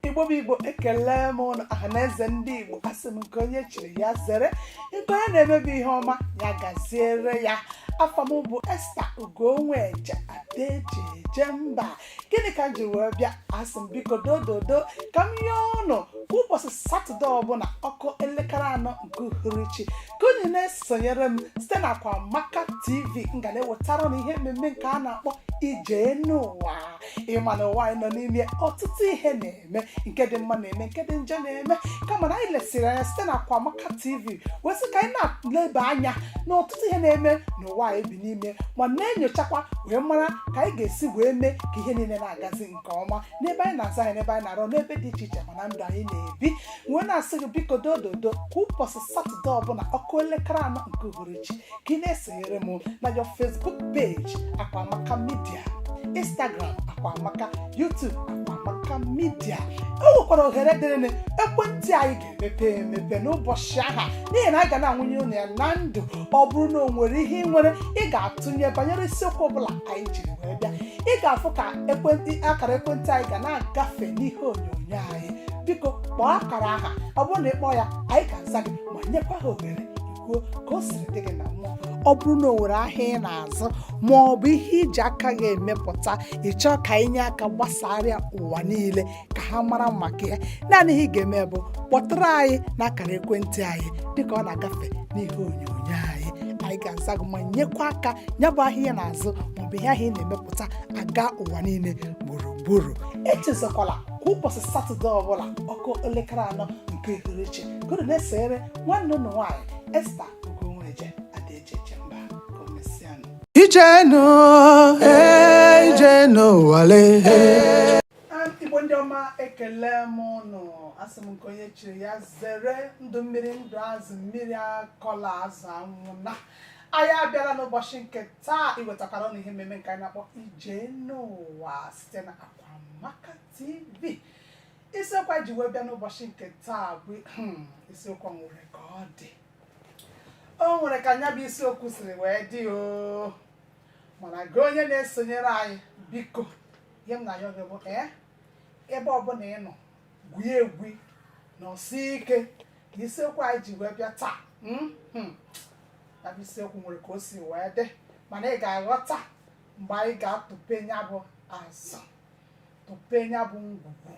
igbo bụ igbo ekele m ụnụ ọha na eze ndị igbo asị m nke onye chiri ya zere nke onye na-emebe ihe ọma ya gaziere ya afa m bụ esta ugonweje ada e ji eje mba gịnị ka m ji wee bịa asị m biko dododo ka m yọọ ụnụ kwa ụbọchị satọde ọbụla ọ kụọ elekere anọ nke uhuruchi ka unu na-esonyere m site na akwamaka tv m ga na-ewetara ụnụ ihe mmemme nke a na-akpọ ije n'ụwa ị ma na ụwa anyị nọ n'ime ọtụtụ ihe na-eme nke dị mma na-eme nke dị njọ na-eme kama na anyị lesịrị anya site na Akwamaka TV wee sị ka anyị na-eleba anya na ọtụtụ ihe na-eme n'ụwa anyị bi n'ime ma na-enyochakwa wee mara ka anyị ga-esi wee mee ka ihe niile na-agazi nke ọma n'ebe anyị na-azụ ahịa n'ebe anyị na-arụ n'ebe dị iche iche ma na ndụ anyị na-ebi wee na-asị gị biko dododo kwa ụbọchị satọde ọbụla ọ kụọ elekere anọ nke uhuruchi ka ị na-esonyere m na your facebook page akwamaka media instagram akwamaka youtube akwamaka media o nwekwara ohere dịrịnụ ekwentị anyị ga-emepe emepe n'ụbọchị aha n'ihi na anyị ga na-awụnye unu ya na ndụ ọ bụrụ na o nwere ihe ị nwere ị ga-atụnye banyere isiokwu ọbụla anyị jiri wee bịa ị ga-afụ ka ekwentị akara ekwentị anyị ga na-agafe n'ihe onyonyo anyị biko kpọọ akara aha ọ bụrụ na ị kpọọ ya anyị ga-aza gị ma nyekwa gị ohere ị kwuo ka o siri dị gị na mmụọ ọ bụrụ na o nwere ahịa ị na-azụ ma ọ bụ ihe i ji aka gị emepụta ị chọọ ka anyị nye aka gbasara ya ụwa niile ka ha mara maka ya naanị ihe ị ga-eme bụ kpọtụrụ anyị n'akara ekwentị anyị dịka ọ na-agafe n'ihe onyonyo anyị anyị ga-aza gị ma nyekwa aka ya bụ ahịa ị na-azụ maọbụ ihe ahụ ị na-emepụta aga ụwa niile gburugburu echezokwala kwa ụbọchị satọde ọbụla ọ kụọ elekere anọ nke uhuruchi ka unu na-esonyere nwanne ụnụ nwaanyị esta ugonweje ada e ji eje mba ka o mesịanụ Ije n'ụwa, eh, ije n'ụwa lee. eh. Ah, igbo ndị ọma ekele m ụnụ asị m nke onye chiri ya zere ndụ mmiri ndụ azụ mmiri akọla azụ anwụna anyị abịala n'ụbọchị nke taa iwetakwara ụnụ ihe mmemme nke anyị na-akpọ ije n'ụwa site na Amaka TV isiokwu anyị ji wee bịa n'ụbọchị nke taa bụ hmm, isiokwu nwere ka ọ dị o nwere ka nya bụ isiokwu siri wee dị o mana gị onye na-esonyere anyị biko ihe m na-ayọ gị bụ ee ebe ọbụla ị nọ gwuo egwu nọsie ike na isiokwu anyị ji wee bịa taa hmm, hmm. ya bụ isiokwu nwere ka o si wee dị mana ị ga-aghọta mgbe anyị ga-atụpe ya bụ azụ tụpe ya bụ ngwugwu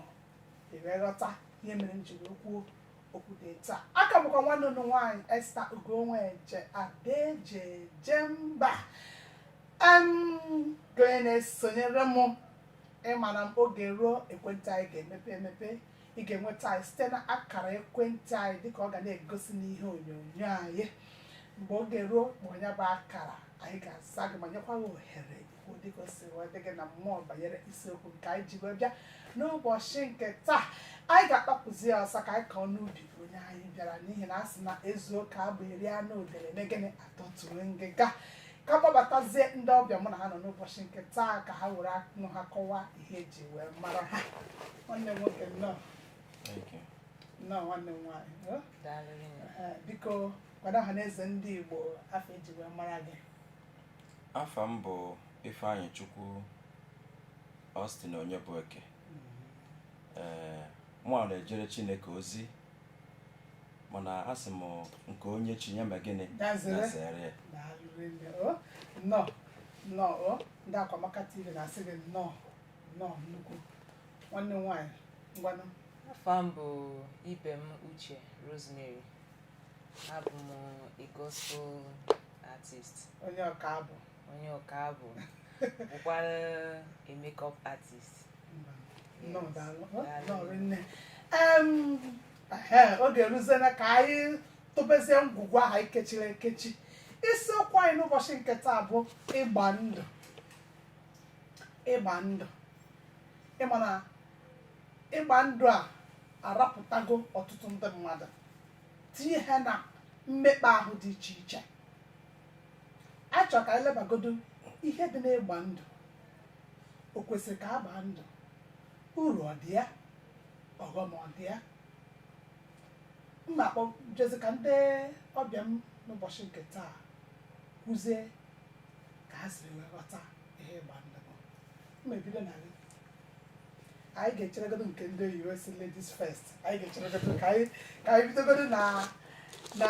ewee ghọta ihe mere m jiri kwuo okwu dị etu a aka bụkwa nwanne unu nwaanyị Esther Ugonweje Ada eji eje mba em gị onye na-esonyere m ịma na oge ruo ekwentị anyị ga-emepe emepe ị ga-enweta anyị site na akara ekwentị anyị dịka ọ ga na-egosi n'ihe onyonyo anyị mgbe oge ruo kpọọ ya bụ akara anyị ga-aza gị ma nyekwa gị ohere ikwu dịka o si wee dị gị na mmụọ banyere isiokwu nke anyị ji wee bịa n'ụbọchị nke taa anyị ga-agbapụzi ya ọsọ ka anyị kọọ n'ubi onye anyị bịara n'ihi na a sị na ezuo ka abụ eri anụ udele emee gịnị atọtue ngịga ka m kpọbatazie ndị ọbịa mụ na ha nọ n'ụbọchị nke taa ka ha were okwu ọnụ ha kọwaa ihe eji wee mara ha nwanne m nwoke nnọọ nnọọ nwanne m nwaanyị eh? Daalụ rinne. Eh, biko gwa ọha na eze ndị igbo afa eji wee mara gị afa m bụ ifeanyịchukwu austin onyebueke ee mụa na-ejere chineke ozi mana asị m nke onye chiri ya mee gịnị Ya zere. ya zere ya daalụ rinne o nnọọ nnọọ o ndị akwamaka tv na-asị gị nnọọ nnọọ nnukwu nwanne m nwaanyị ngwanụ Afa m bụ Ibem Uche Rosemary. Abụ m a gospel artist. onye ọka abụ onye ọka abụ bụkwara a makeup artist Nnọọ Yes. daalụ. Ọ Daalụ. nnọọ rinne. Em, ehe, oge eruziela ka anyị tụbezie ngwugwu ahụ anyị kechiri ekechi isiokwu anyị n'ụbọchị nke taa bụ ịgba ndụ ịgba ndụ ịma na ịgba ndụ a arapụtago ọtụtụ ndị mmadụ tinye ha na mmekpa ahụ dị iche iche achọ ka anyị lebagodo ihe dị n'ịgba ndụ o kwesịrị ka a gbaa ndụ uru ọ dị ya ọghọm ọ dị ya mma akpọ jezi ka ndị ọbịa m n'ụbọchị nke taa kwuzie ka ha siri wee ghọta ihe ịgba ndụ bụ mma ebido na gị anyị ga-echeregodo nke ndị oyibo sị ladies first anyị ga-echeregodo ka anyị ka anyị bidogodo na na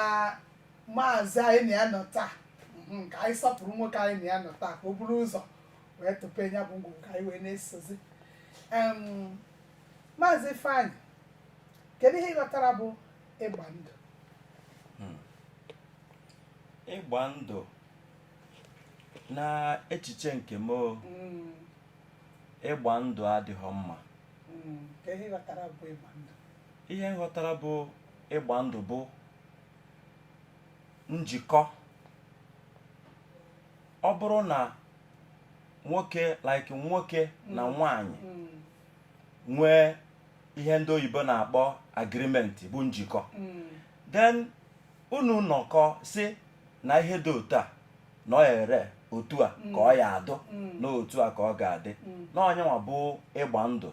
maazị anyị na ya nọ taa mhm, ka anyị sọpụrụ nwoke anyị na ya nọ taa ka o buru ụzọ wee tụpe ya bụ ngwugwu ka anyị wee na-esozi Em, maazị ifeanyị kedu ihe ị ghọtara bụ ịgba ndụ ịgba ndụ na echiche nke m o, Mm, ịgba ndụ adịghị mma mm, kedu ihe ị ghọtara bụ ịgba ndụ ihe m ghọtara bụ ịgba ndụ bụ njikọ ọ bụrụ na nwoke like nwoke na mm. nwanyị mm. nwee ihe ndị oyibo na-akpọ agreement bụ njikọ mm. then unu nọkọ sị na ihe dị otu a na ọ ere otu a ka ọ ya-adụ na otu a ka ọ ga-adị na ọ nyanwa bụ ịgba ndụ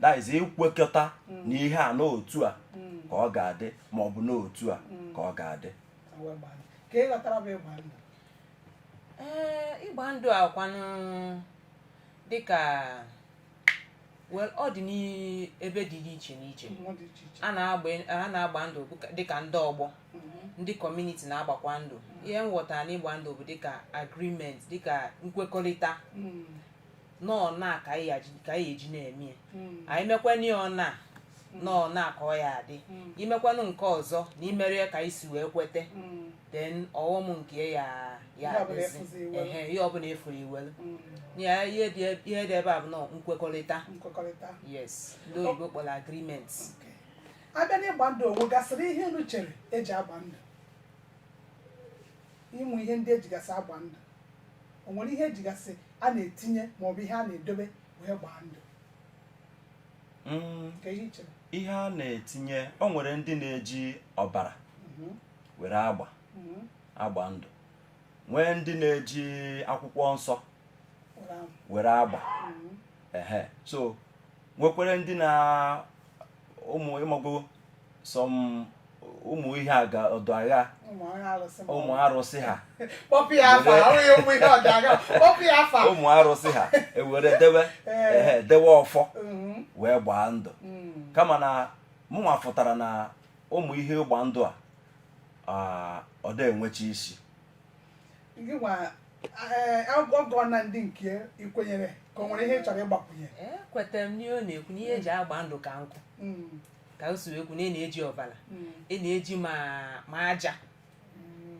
that is ikwekọta mm. na ihe a na otu a mm. ka ọ ga-adị ma ọ bụ na otu a mm. ka ọ ga-adị ịgba ndụ a kwanụ dịka ọ dị n'ebe dị iche n'iche a na-agba ndụ dịka ndị ọgbọ mm-hmm. ndị community na-agbakwa ndụ ihe m ghọtara n'ịgba ndụ bụ dịka agreement dịka nkwekọrịta na ọ ọna ka anyị aji- ka anyị eji na-eme ya anyị mekwanụ ya ọna na ọ ọna ka ọ ya-adị i mekwanụ nke ọzọ na i mero ya ka anyị si wee kwete then ọghọm nke ya ya Ihe ọbụla adịzi. ị fụzị i welu. Ehe, ihe ọbụla ị fụrụ i welu ya ihe dị eb- ihe dị ebe a bụ na ọ nkwekọrịta nkwekọrịta yes ndị oyibo kpọrọ agreement a bịa n'ịgba ndụ o nwegasịrị ihe unu chere e ji agba ndụ ụmụ ihe ndị e jigasị agba ndụ o nwere ihe e jigasị a na-etinye ma ọ bụ ihe a na-edobe wee gbaa ndụ Mm, ka ihe i chere ihe a na-etinye o nwere ndị na-eji ọbara Mhm, were agba mhm. agba ndụ nwee ndị na-eji akwụkwọ nsọ uh-huh. were agba Mhm. ehe so nwekwara ndị na ụmụ ị mago some ụmụ ihe aga ọ dụ aghaa ụmụ ọrụ alụsị ma ọ ụmụ arụsị ha kpọpụ ya afa ọ bụghị ụmụ ihe ọ dụ aghaa kpọpụ ya afa ụmụ arụsị ha e were dewe Ee. ehe dewe ọfọ Mhm, wee gbaa ndụ mm, kama na mụnwa fụtara na ụmụ ihe ịgba ndụ a ah, ọ da-enwecha isi gị nwa Ọgọ na ndị nke i kwenyere ka o nwere ihe ị chọrọ ịgbakwunye ekwetara m n'ihe ọ na-ekwu na ihe e ji agba ndụ ka nkụ Mm, ka o si wee kwu na a na-eji ọbara mm, a na-eji ma ma aja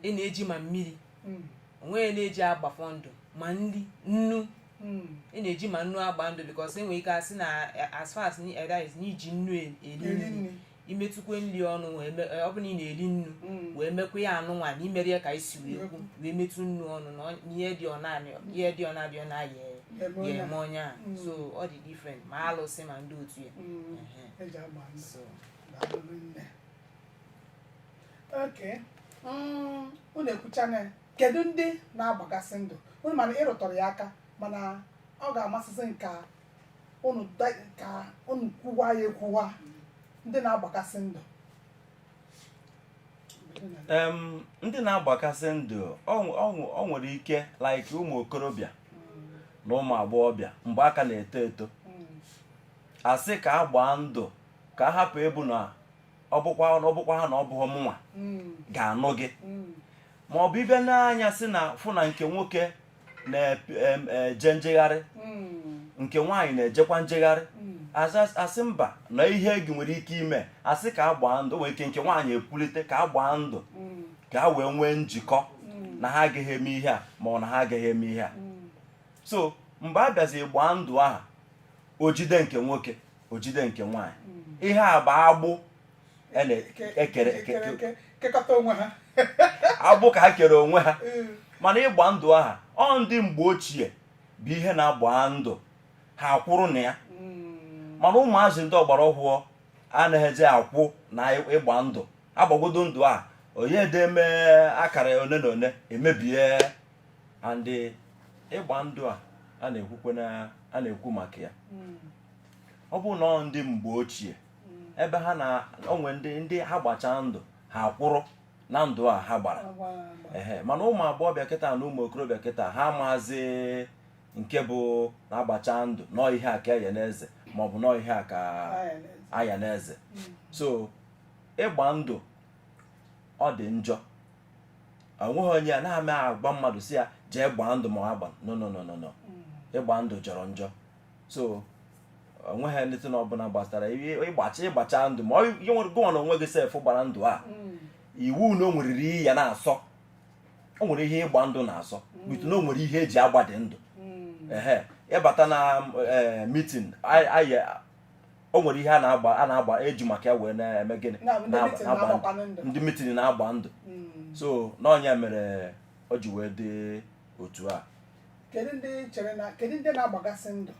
a na-eji ma mmiri mm, o nweghị ihe a na-eji agbafọ ndụ ma nri nnu mm, a na-eji ma nnu agba ndụ because e nwere ike a sị na as far as ni- eh, that is na i ji nnu e- eri eri nri nri. i metụkwa nri ọnụ wee me- ọ bụrụ na ị na-eri nnu Mm. wee mekwa ya anụnwa na i mero ya ka anyị si wee kwu wee metụ nnu ọnụ na ọ- ihe dị ọna na ihe dị ọna abịa na ya-eme onye ya eme onye a Mm. so ọ dị different ma alụsị ma ndị otu ya Mm. Ehe. e ji agba ndụ so daalụ nne okay mm, unu ekwuchana ya. kedu ndị na-agbagasị ndụ unu ma na ị rụtụrụ ya aka mana ọ ga-amasịsị m ka unu da- ka unu kwuwa ya ekwuwa ndị na-agbakasị ndụ em ndị na-agbakasị ndụ o nwe- o nwe- o nwere ike like ụmụ okorobịa na ụmụ agbọghọbịa mgbe a ka na-eto eto a sị ka a gbaa ndụ ka a hapụ ịbụ na ọ bụkwa ọ bụkwa ha na ọ bụghị mụnwa Mm, ga-anụ gị mm, ma ọ bụ ịbịa n'anya sị na fụ na nke nwoke na-eje e, njegharị hmm. nke nwaanyị na-ejekwa njegharị hmm. a sị mba na ihe gị nwere ike ime a sị ka a gbaa ndụ nwere ike nke nwaanyị ekwulite ka a gbaa ndụ hmm. ka a wee nwee njikọ na ha agaghị eme ihe a ma ọ na ha agaghị eme ihe a so mgbe a bịazi gbaa ndụ aha o jide nke nwoke o jide nke nwaanyị ihe a bụ agbụ e na-ekere e e kekọta onwe ha agbụ ka ha kere onwe ha mm. mana ịgba ndụ aha ọ ndị mgbe ochie bụ ihe na a gbaa ndụ ha akwụrụ na ya mm. mana ụmụazị ndị ọgbara ọhụụ anaghịzi akwụ na ịgba ndụ a gbagodu ndụ a onye deme akara one na one emebie and ịgba ndụ a a na-ekwukwe a na-ekwu maka ya hmm. ọ bụ na ndị mgbe ochie ebe ha na onwe ndị ndị ha gbacha ndụ ha kwụrụ na ndụ a ha gbara ehe mana ụmụ agbọghọbịa kịta na ụmụ okorobịa kịta ha amazị nke bụ na a gbacha ndụ na ọ ihe a ka a ya na-eze maọbụ na ọ ihe a ka a ya na-eze hmm. so ịgba ndụ ọ dị njọ o nweghị onye anaghị m agwa mmadụ sị ya jee gbaa ndụ ma agba no no no no no hmm. ịgba ndụ jọrọ njọ so o nweghị need na ọbụla gbasara ịgbacha ịgbacha ndụ ma ihe nwere gịwa na onwe gị sef gbara ndụ a hmm. iwu na o nweriri ihe ya na-asọ o nwere ihe ịgba ndụ na-asọ hmm. but na o nwere ihe e ji agbadị ndụ hmm. ehe ị bata na eh, mitin o nwere ihe a na-agba a na-agba e ji maka ya wee na-eme gịnị ndị mitin na-agba ndụ so na ọ nya mere o ji wee dị otu a kedu ndị chere na kedu ndị na-agbagasị ndụ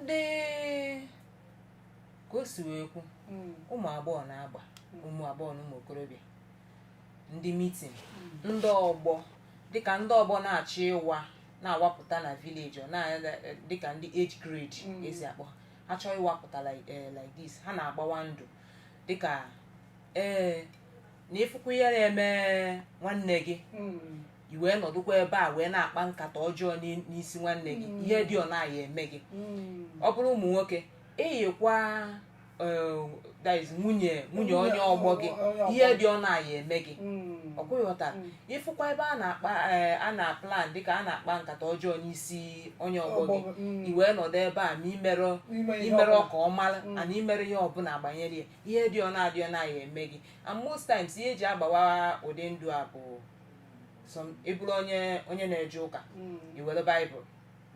dịka o si wee kwu ụmụ agbọghọ na-agba ụmụ agbọghọ na ụmụ okorobịa ndị mitin ndị ọgbọ dịka ndị ọgbọ na-achọ ịwa na-awapụta na village ọ na-anya dịka ndị age grade e si akpọ ha ha chọọ ịwapụta like eh, like this ha na-agbawa ndụ dịka ee na ịfụkwa ihe na-eme nwanne gị i wee nọdụkwa ebe a wee na-akpa nkata ọjọọ n'i- n'isi nwanne gị ihe dị ọ na-aya eme gị ọ bụrụ ụmụ nwoke i yikwa eh, that is nwunye nwunye onye ọgbọ gị Onye ọgbọ ihe dị ọ na-aya eme gị ọkwa ị ghọta ịfụkwa ebe a na-akpa eh, a na-aplan dịka a na-akpa nkata ọjọọ n'isi onye ọgbọ gị Ọgbọ gị, mm. i wee nọdụ ebe a ma imerọ Ime ihe imere ọbụla. ka ọ mara and i merọ ihe ọbụla gbanyere ya ihe dị ọ na-adị ọ na-aya eme gị and most times ihe eji agbawa ụdị ndụ a bụ some ịbụrụ onye onye na-eje ụka Mm. iwere baịbụl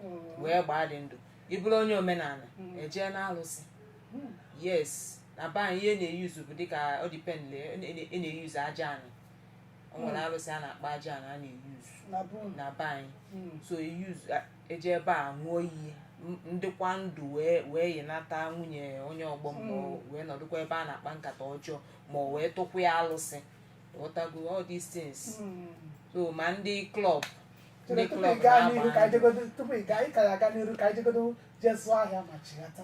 Mm. wee gbaa dị ndụ ịbụrụ onye omenala Mm. ejee na alụsị Mm. yes na be anyị ihe a na-eyuzu bụ dịka ọ depend a na-eyuzu Aja Anị o nwere alụsị a na-akpọ Aja Anị a na-eyuzu na be unu. na be anyị Mm. so eyuzu eje ebe a ṅụọ iyi m- m dịkwa ndụ wee wee yinata nwunye onye ọgbọ m ma ọ wee nọdụkwa ebe a na-akpa nkata ọjọọ ma ọ wee tụkwa ya alụsị ghọtago all these things so ma ndị club ndị tupu ị club gaa n'iru ka na-agba anyị jegodo tupu ị gaa ị ka ya aga n'iru ka anyị jegodo jee zụọ ahịa ma chighata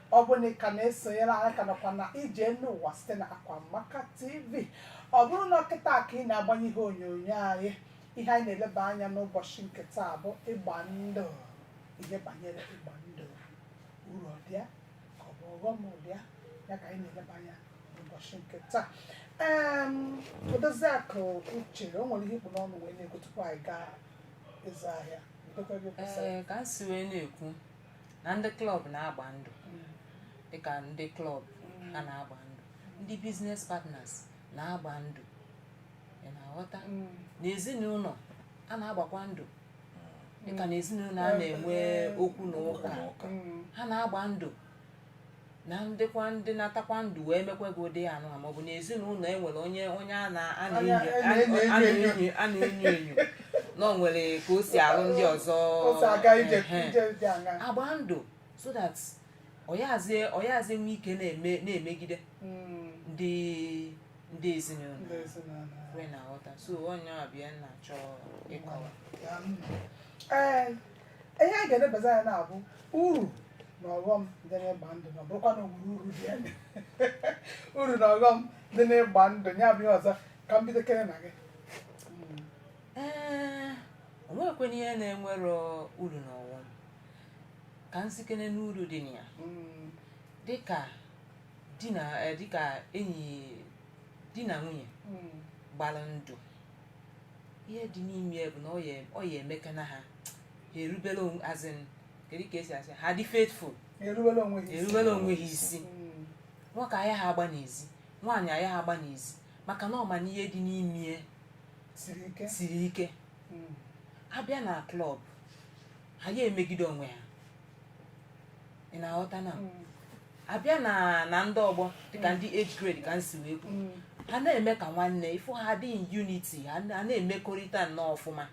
ọ bụ na ị ka na-esonyere anyị ka nọkwa na Ije Enu Ụwa site na Akwa Amaka TV ọ bụrụ na kịta ka ị na-agbanye ihe onyonyo anyị ihe anyị na-eleba anya n'ụbọchị nke taa bụ ịgba ndụ ihe banyere ịgba ndụ uru ọ dị ya ka ọ bụ ọghọm ọ dị ya ya ka anyị na-eleba anya n'ụbọchị nke taa Em, Odoziakụ Uche o nwere ihe i kpu n'ọnụ wee na-ekwu tupu anyị gaa ịzụ ahịa Ndokwa gị kwụsịrị. Ee, ka m si wee na-ekwu na ndị club na-agba ndụ dịka ndị club ha na-agba ndụ ndị business partners na-agba ndụ ị na-aghọta n'ezinụlọ a na-agbakwa ndụ dịka n'ezinụlọ a na-enwe okwu na ụka ha na-agba ndụ na m dịkwa m dịnatakwa ndụ wee mekwa gị ụdị anụ a maọbụ na ezinụlọ enwere onye onye a na- a Onye na-enyo a na-enyo a enyo enyo. na-enyo- a na-enyo enyo na o nwere ka o si arụ ndị ọzọ o si aga ije ehe. ije dị a ga-agba ndụ so that ọ yazị ọ yazị enwe ike na-eme na-emegide Mm, ndị ndị ezinụlọ ndị ezinụlọ ọkwa ị na-aghọta so onye ọbịa na-achọ ịkọwa Ya, mm. ee ihe a ga-elebazi anya na-abụ uru na ọghọm dị n'ịgba ndụ na ọ bụrụkwa na o nwere uru dị ya uru na ọghọm dị n'ịgba ndụ ya bụ ihe ọzọ ka m bido kere na gị ee o nwekwena ihe na-enwero uru na ọghọm ka m sikene n'uru dị na ya Mm, dịka di na eh, dịka enyi di na nwunye mm, gbara ndụ ihe dị n'ime ya bụ na ọ ya ọ ya eme ka na ha ha erubere onwe as in kedu ka esi asị ha dị faithful erubere onwe ha isi. erubere onwe ha isi Mm. nwoke ayaha agba n'ezi nwaanyị ayaha agba n'ezi maka na ọ ma na ihe dị n'ime ya siri ike siri ike Mm. a bịa na club ha ya emegide onwe ha ị na-aghọta na Mm. abịa na na ndị ọgbọ dịka ndị age grade ka m si wee kwu ha na-eme ka nwanne ị fụ ha dị in unity ha na- ha na-emekọrịta nnọọ ọfụma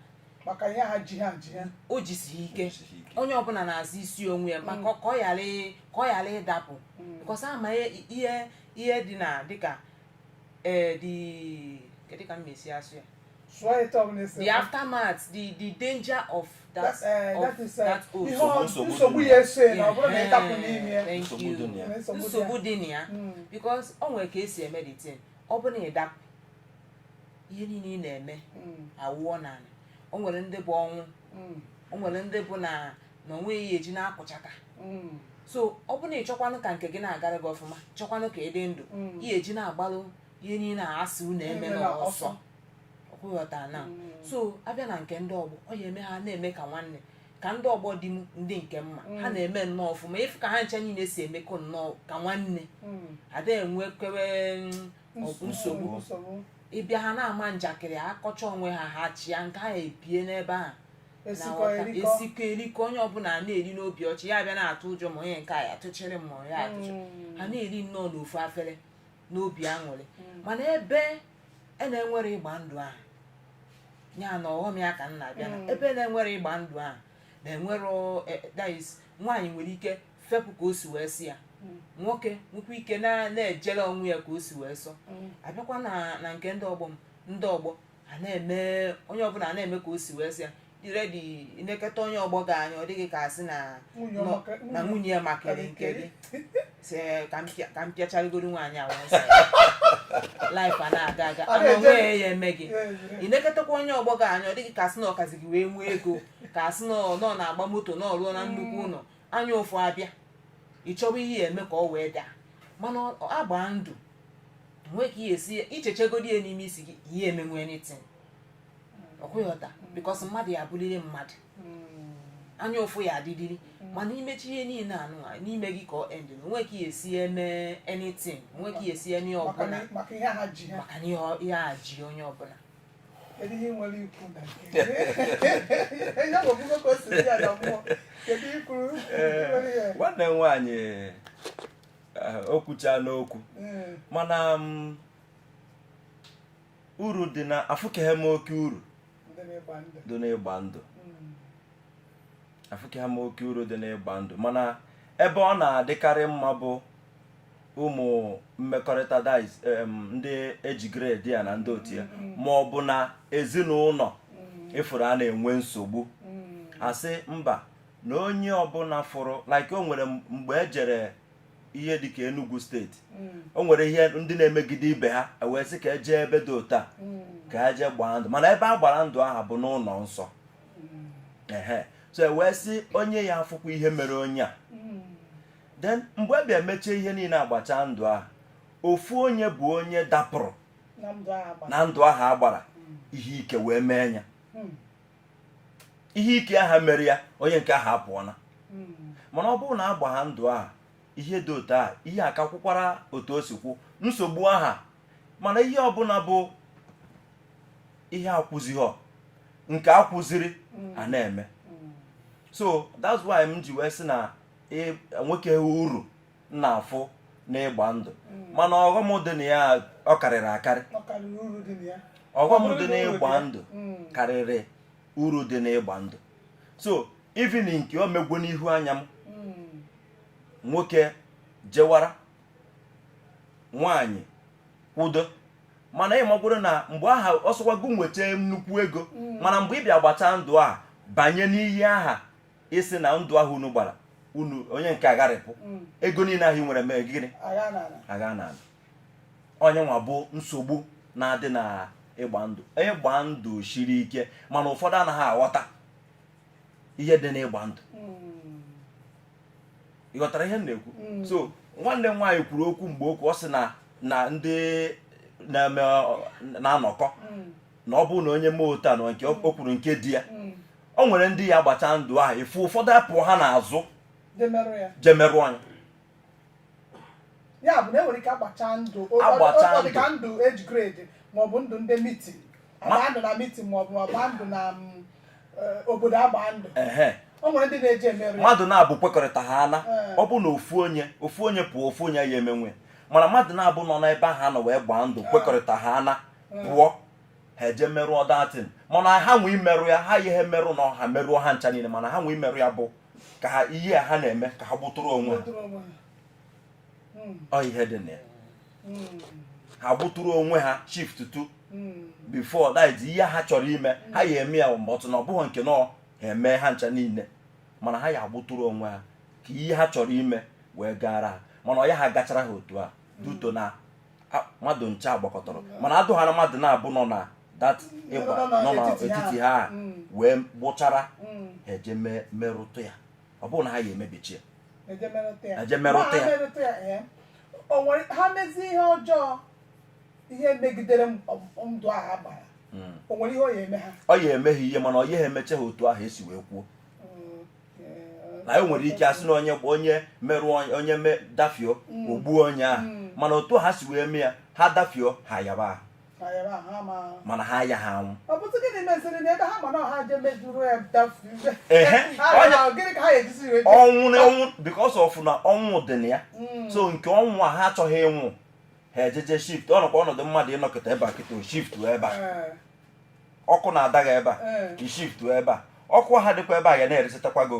maka ihe ha ji ha ji ha o jisi ike Jisi ike. onye ọbụla na-azọ isi onwe ya maka ka ọ ghara ị- ka ọ ghara ịdapụ because a ma ihe ihe dị na dịka ee dị kedu ka m mesi asụ ya sụọ ya etu ọbụla esi the aftermath the the danger of that eh, of that is eh, that oath. ihe ọ- Nsogbu dị nsogbu na ya. ya eso ya na ọ bụrụ na ị dapụ n'ime ya Thank Nsogbu you. dị na ya. Nwere nsogbu dị nsogbu ya. dị na ya Mm. because o nwere ka esi eme the thing ọ bụ na ị dapụ ihe niile ị na-eme Mm, awụọ n'ala o nwere ndị bụ ọnwụ mm, o nwere ndị bụ na na onwe ya eji na-akụchaka mm, so ọ bụ na ị chọkwanụ ka nke gị na-agara gị ọfụma chọkwanụ ka ị dị ndụ Mm. ihe eji na-agbalụ ihe niile a asị unu eme Emela n'ọsọ ọsọ. ọkwa ị ghọta na so a bịa na nke ndị ọgbọ ọ ya eme ha na-eme ka nwanne ka ndị ọgbọ dị m ndị nke mma ha na-eme nnọọ ọfụma ị fụ ka ha ncha niile si emekọ nnọọ ka nwanne Mm. ada enwekwewe mm, ọgụ nsogbu nsogbu ị bịa ha na-ama njakịrị akọcha onwe ha ha chịa nke ha ebie n'ebe a esikọ na-aghọta. erikọ esikọ erikọ onye ọbụla na-eri n'obi ọcha ị ya abịa na-atụ ụjọ ma onye nke a ya tụchịrị m ma ya atụchị Mm. ha na-eri nnọọ n'ofu afere n'obi aṅụrị mana ebe a na-enwere ịgba ndụ ahụ ya na ọghọm ya ka m na-abịa na Mm. ebe na-enwere ịgba ndụ ahụ na-enwere ọ- eh, that is, nwaanyị nwere ike fepụ ka o si wee sọ ya Mm. nwoke nwekwa ike na- na-ejere onwe ya ka o si wee sọ a bịakwa na na nke ndị ọgbọ m ndị ọgbọ a na-eme onye ọbụla a na-eme ka o si wee sọ ya dị ready ị neketa onye ọgbọ gị anya ọ dị gị ka a sị na Nwunye nọ- ọ maka- na nwunye ya makarị nke gị si ka m pịa- ka m pịacharịgoro nwaanyị a wee sị ya. life a na-aga aga A ana na-eje- onwe ya eme gị ị neketakwa onye ọgbọ gị anya ọ dị gị ka a sị na ọ kazi gị wee nwee ego ka asị na ọ nọ na-agba moto na ọ lụọna nnukwu ụlọ anya ụfụ abịa ị chọwa ihe ya eme ka ọ wee daa mana ọ- ọ a gbaa ndụ nwee ka ị ya esi ị chechegodi ya n'ime isi gị ị ya emenwe anything ọkwa ị ghọta because mmadụ ya abụrịrị mmadụ anya ụfụ ya adịdịrị mana ị mechie ihe niile anụ a, n'ime gị ka ọ end na onwe ka ị ya esi eme anything onwe ka ị ya esi eme maka ọbụla na- maka ihe ha ji ha maka na ihe ọ- ihe a ji onye ọbụla kedu ihe nwere ikwu na ya bụ ọgwụgwọ ka o si dị ya na mmụọ kedu ikwuru nwanne m nwaanyị o kwuchana okwu mana uru dị na afụkeghị m oke uru dị n'ịgba ndụ afụkeghị m oke uru dị n'ịgba ndụ mana ebe ọ na-adịkarị mma bụ ụmụ mmekọrịta dịka em, ndị age grade ya na ndị otu ya ma ọ bụ na ezinụlọ ị fụrụ a na-enwe nsogbu a sị mba na onye ọbụla fụrụ like o nwere mgbe e jere ihe dịka Enugu steeti o nwere ihe ndị na-emegide ibe ha e wee sị ka e je ebe dị otu a ka e je gbaa ndụ mana ebe a gbara ndụ aha bụ n'ụlọ nsọ so e wee sị onye ya afụkwa ihe mere onye a then mgbe e bịa mechaa ihe niile a gbachaa ndụ ahụ ofu onye bụ onye dapụrụ na ndụ ahụ a gbara hmm. ihe ike wee mee ya hmm. ihe ike aha mere ya onye nke ahụ apụọla hmm. mana ọ bụrụ na agbaha ndụ ahụ ihe dị otu a ihe akakwụkwara otu o si kwụ nsogbu aha mana ihe ọbụla bụ ihe akwụzighọ nke akwụziri mm. a na-eme mm. so that's why m ji wee sị na enwekeghị uru m na-afụ n'ịgba ndụ mm. mana ọghọm dị na ya ọ karịrị akarị ọghọm dị n'ịgba ndụ karịrị uru dị n'ịgba ndụ so even nke o megwo n'ihu anya m nwoke jewara nwaanyị kwudo mana ị makwuru na mgbe aha ọ sọkwa gị nweta nnukwu ego mm. mana mgbe ị bịa gbachaa ndụ a banye n'iyi aha ị sị na ndụ ahụ unu gbara unu onye nke agharịpụ mm. ego niile ahụ i nwere mee gịnị agana ọ nya nwa bụ nsogbu na-adị na ịgba ndụ ịgba ndụ shiri ike mana ụfọdụ anaghị aghọta ihe dị n'ịgba ndụ mm. ị ghọtara ihe m na-ekwu mm. so nwanne m nwaanyị kwuru okwu mgbe okwu ọ sị na na ndị na-eme na-anọkọ mm. na ọ bụrụ na onye mee otu a na nke o mm. kwuru nke di ya o nwere ndị ya-agbacha ndụ ahụ ị fụ ụfọdụ apụ ha n'azụ je merụọ nya ya bụ na e nwere ike agbacha ndụ agbacha ndụ ka ndụ age grade maọbụ ndụ ndị mitin a gbaa ndụ na mitin ma ọ bụ a gbaa ndụ na mm, eh, obodo a gbaa ndụ ehe o nwere ndị na-eje emerụ ya mmadụ naabụ kwekọrịta ha ana Ee. ọ bụ na ofu onye ofu onye pụọ ofu onye ya emenwe mana mmadụ naabụ nọ n'ebe ahụ anọ wee gbaa ndụ kwekọrịta ha ana pụọ ha eje merụọ that thing mana ha nwee imerụ ya ha ihe merụ na ha merụọ ha ncha niile mana ha nwee imerụ ya bụ ka ha ihe a ha na-eme ka ha gbụtụrụ onwe ha Dụrụ onwe ha. hmm. ọ ihe dị na ya hmm. ha gbuturu onwe ha shift tụ hmm. before that ihe ha chọrọ ime ha ya eme ya mgbe ọtụ na ọ bụghị nke na-eme ha ncha niile mana ha ya agbụtụrụ onwe ha ka ihe ha chọrọ ime wee gara ha mana ọ ya agachara ha otu a due to na mmadụ ncha agbakọtọrọ mana adụ ha na mmadụ naabọ nọ na that ịgba ndụ n'etiti ha wee gbụchara ha eje merụtụ ya ọ bụrụ na ha ya emebichi ya eje merụta ya Eje merụta Ma ha ya. merụta ya ee. o nwere ha mezie ihe ọjọọ ihe megidere m- m- ndụ a ha gbara Mm. o nwere ihe ọ ya eme ha ọ ya emeghị ihe mana ọ ya emeche ha otu ahụ e si wee kwuo Mm, ee. na e nwere ike a sị na onye onye merụọ onye- onye me dafio o gbuo onye ahụ Mm. mana otu ha si wee mee ya ha dafio ha yaba ahụ mana ha ya ha anwụ ọnwụ because of na ọnwụ dị na ya hmm. so nke ọnwụ a ha achọghị ịnwụ ha ejeje shift ọ nọkwa ọnọdụ mmadụ ịnọkọta ebe a kịta shift ebe a eh. ọkụ na-adaga ebe a eh. shift ebe a ọkụ a dịkwa ebe a ya na-eresịtakwa gị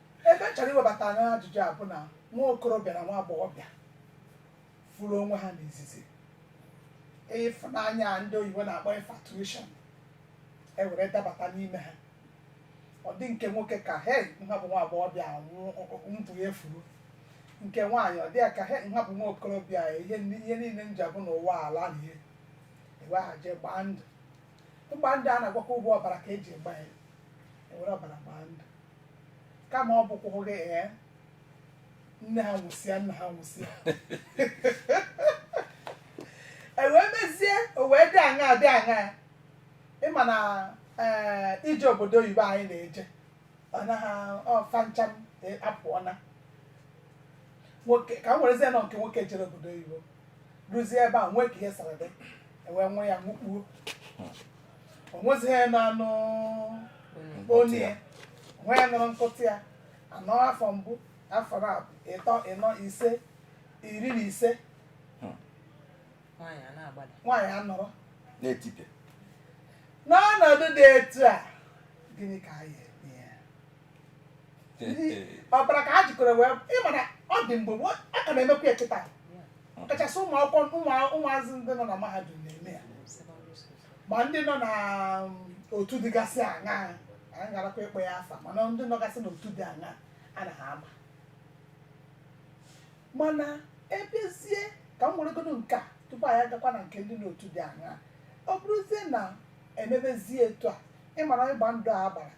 ebe m chọrọ iwebata ajụjụ a bụ na nwa okorobịa na nwa agbọghọbịa fụrụ onwe ha n'izizi ịfụnanya a ndị oyibo na-akpọ infatuation e were dabata n'ime ha ọ dị nke nwoke ka he nha bụ nwa agbọghọbịa ndụ ya efuru nke nwaanyị ọ dị ya ka he nha bụ nwa okorobịa ihe ni- ihe niile m ji abụ n'ụwa alaa n'iyi e wee ga je gbaa ndụ ịgba ndụ a na-agwakwa bụ ọbara ka e ji agba ya e were ọbara gbaa ndụ kama ọ bụkwa oge ee nne ha nwụsịa nna ha nwụsịa e wee mezie o wee dị aṅa dị aṅa ị ma na ee ije obodo oyibo anyị na-eje ọ naghị ọfa ncha m e- apụọna nwoke ka m werezie nọ nke nwoke jere obodo oyibo ruzie ebe a nwee ka ihe siri dị e wee nwe ya mụkpuo o nwezighị na-anụ onye ya onwe ya nụrụ mkpọtụ ya a nọọ afọ mbụ afọ na ịtọ ịnọ ise iri na ise nwaanyị a na-agbada nwaanyị anọrọ na-etipịa n'ọnọdụ dị etu a gịnị ka a ya eme ya ọbara ka ha jikọrọ wee ị ma na ọ dị mgbe gboo, a ka na-emekwa ya kịta kachasị ụmụ akwụkwọ ụmụ- ụmụazị ndị nọ na mahadum na-eme ya secondary school ma ndị nọ na um, otu dịgasị aṅa anyị garakwa ịkpọ ya afa mana ndị nọgasị n'otu dị aṅa a naha ama mana ebezie ka m weregodo nke a tupu anyị agakwa na nke ndị n'otu dị aṅa ọ bụrụzie na e mebezie etu a ị mara ịgba ndụ a gbara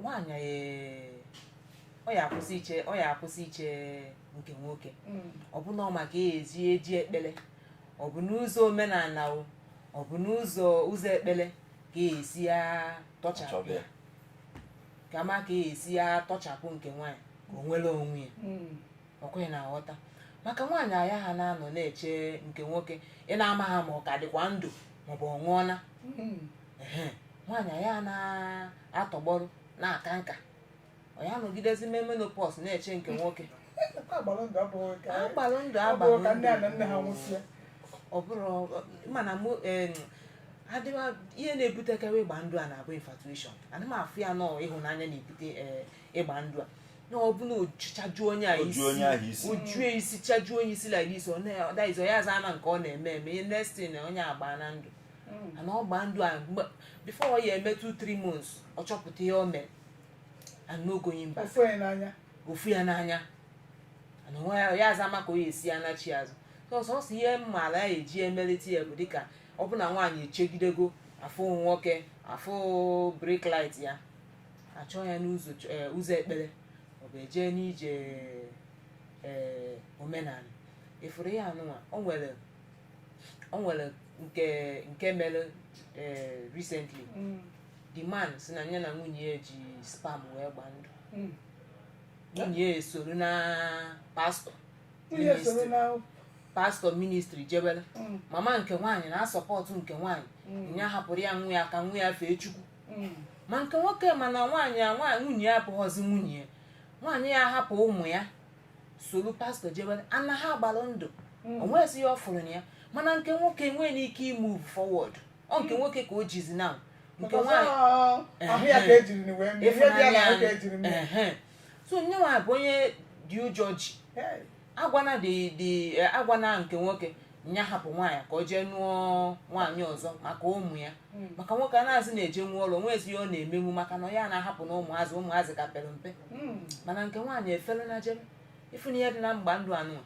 nwaanyị ee, ọ ya akwụsị iche ọ ya akwụsị iche nke nwoke ọ bụ na ọ ma ka ya esi eji ekpele ọ bụ n'ụzọ omenala o ọ bụ n'ụzọ ụzọ ekpele ka ya esi ya tọchapụ Chọbe. ya ka ma ka ya esi ya tọchapụ nke nwaanyị ka o nwere onwe ya ọ kwa ị na-aghọta maka nwaanyị a ya ha na-anọ na-eche nke nwoke ị na-amaha ma ọ ka dịkwa ndụ maọbụ ọ nwụọla Mm. Ehe, nwaanyị a ya na-atọgbọrọ na-aka nka ọ ya nọgidezi mee menopause na-eche nke nwoke Akwa agbara ndụ abụghị ka a gbalụ ndụ ọ bụrụ ka nne ya na nne ha agbalụ nwụsịa ọ bụrụ mana mụ em, adịwa ihe na-ebutekarị ịgba ndụ a na-abụ infatuation ana m afụ ya na ọ ịhụnanya na-ebute eh, ịgba ndụ a na ọ bụ na ojuchaju onye a Oju onye ahụ isi. ojue isi chaju onye isi like this ọ na- ọ that is onye aza ama nke ọ na-eme eme the next thing na onye agbaana ndụ and ọ gbaa ndụ a mgbe- before ọ ya eme 2 3 months ọ chọpụta ihe o mere and no going back ọ fụ onye n'anya ọ fụ ya n'anya and onwe ya ya aza ama ka ọ ya esi ya nachi azụ so sọsọ ihe m maalụ a ya eji emelite ya bụ dịka ọ bụ na nwaanyị echegidego afụ nwoke afụ brake light ya achọọ ya n'ụzọ ch- eh, ụzọ ekpere ọ bụ eje n'ije eh, omenala ị fụrụ ihe anụnwa o nwere o nwere nke nke mere eh, recently Mm. the man si na ya na nwunye ya ji sperm wee gba ndụ Mm. nwunye ya esorona pastor Nwunye ya esorona pastor ministry jebere Mm. mama nke nwaanyị na-asupport nke nwaanyị Mm. ya hapụrụ ya nwa ya ka nwa ya fee chukwu mm. ma nke nwoke mana nwaanyị a nwunye ya abụghọzi nwunye ya nwaanyị ya hapụ ụmụ ya soro pastor jebe and ha gbalụ ndụ mm. o nwezi ihe ọ fụrụ na ya mana nke nwoke nwee n'ike imove forward ọ nke nwoke ka o jizi na nke nwaanyị so nyanwa bụ onye di ụjọ ji a gwana di di eh, a gwana nke nwoke nya hapụ nwaanyị ka o jee nụọ nwaanyị ọzọ maka ụmụ ya Mm. maka nwoke a anazị na-ejenwu ọlụ o nwezi ihe ọ na-emenwu maka na ya na-ahapụ na ụmụazị ụmụazị ka pere mpe Mm. mana nke nwaanyị eferena jebe ị fụna ihe dị na ịgba ndụ a nụ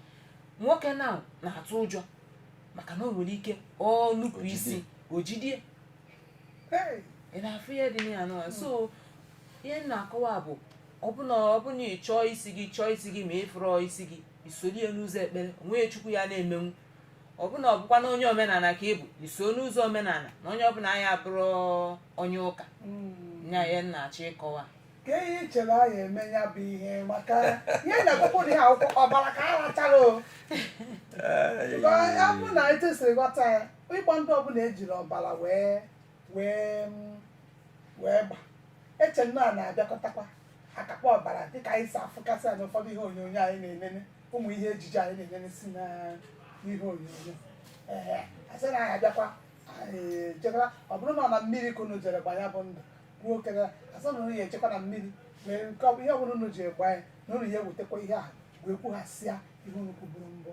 nwoke na na-atụ ụjọ maka na o nwere ike ọ nupụ isi o jidie ị na-afụ ihe dị ya n'ụwa so ihe m na-akọwa bụ ọ bụ na ọ bụ na ị chọọ isi gị chọọ isi gị ma ị fụrọ isi gị i soro ya n'ụzọ ekpere o nwee ihe chukwu ya na-emenwu ọ bụ na ọ bụkwa na onye omenala ka ị bụ i soo n'ụzọ omenala na onye ọbụla anyị abụrụ onye ụka nya ya na-achọ ịkọwa ka ihe i chere a ya eme ya bụ ihe maka ihe na-ekwukwu na ihe a bụkwa ọbara ka a rachara o Ee, Ọ bụ na etu si ghọta ya ịgba ndụ ọbụla ejiri ọbara wee wee mm, wee gba eche nnọọ a na-abịakọtakwa akakpọ ọbara dịka anyị si afụkasị na ụfọdụ ihe onyonyo anyị na-enene ụmụ ihe ejije anyị na-enene si na ihe onyonyo ee asị na anyị abịakwa anyị ejekwa ọ bụrụ na ọ na mmiri ka unu jere gba ya bụ ndụ kwuo okere asị na unu ya ejekwa na mmiri mere nke ọ bụ ihe ọbụla unu ji gba ya na unu ya ewetekwa ihe a wee kwughasịa ihe unu kwuburu mbụ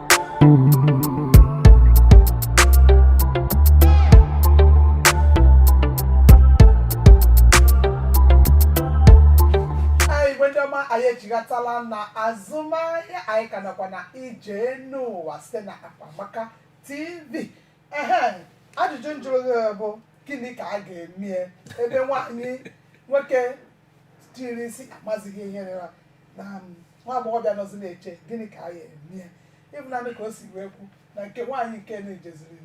anyị echighatala na azụmahịa anyị ka nọkwa na ije n'ụwa site na Akpamaka TV ehe ajụjụ njụrụ gị bụ gịnị ka a ga-emie ebe nwaanyị nwoke tiri isi amazighị ihe rịra na um, nwa agbọghọbịa nọzi na-eche gịnị ka a ya eme ya ịbụnanị ka o si wee kwu na nke nwaanyị nke na-ejeziri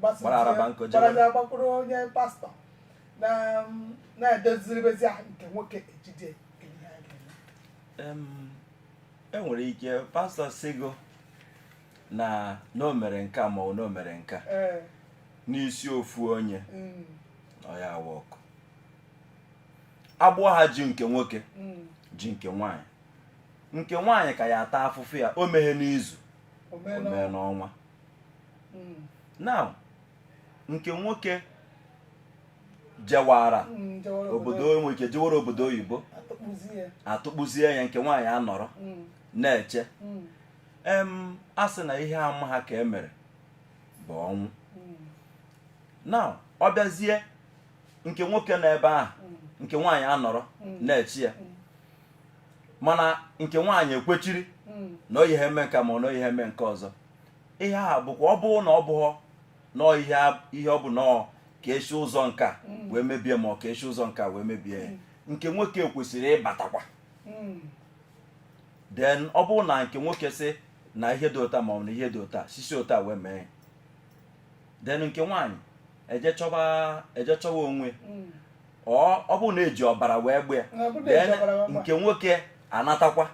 gbasịzie- Gbara araba nkụ jewe. gbakwuru onye pastọ na um, na-edoziribezi ahụ nke nwoke ejide nke ihe a ga-eme Em, enwere ike pastọ sịgo na na o mere nke a ma ọ bụ na o mere nke a ee n'isi ofu onye mm, ọ ya awa ọkụ agbụ ahụ ji nke nwoke mm. ji nke nwaanyị nke nwaanyị ka ya ata afụfụ ya o meghe n'izu o mee n'ọnwa mm. now nke nwoke jewara mm, obodo enwe ike jewara obodo oyibo atụkpụzie ya nke nwaanyị anọrọ na-eche em a sị na ihe amaha ka e mere bụ ọnwụ now ọ bịazie nke nwoke nọ ebe ahụ nke nwaanyị anọrọ na-eche ya mana nke nwaanyị ekwechiri na ọ yaha eme nka ma na ọ yaha eme nke ọzọ ihe a bụkwa ọ bụrụ na ọ bụghọ nọọ ihe ọ bụ nọọ ka esi ụzọ nka wee mebie ma ọ ka esi ụzọ nka wee mebie ya nke nwoke kwesịrị ịbatakwa then ọ bụrụ na nke nwoke sị na ihe dị otu a ma ọ bụ na ihe dị otu a sisi otu a wee mee then nke nwaanyị eje chọba eje chọwa onwe mm. ọ ọ bụ na eji ọbara wee gba ya Na ọ bụ na then eji ọbara wee gba. nke nwoke anatakwa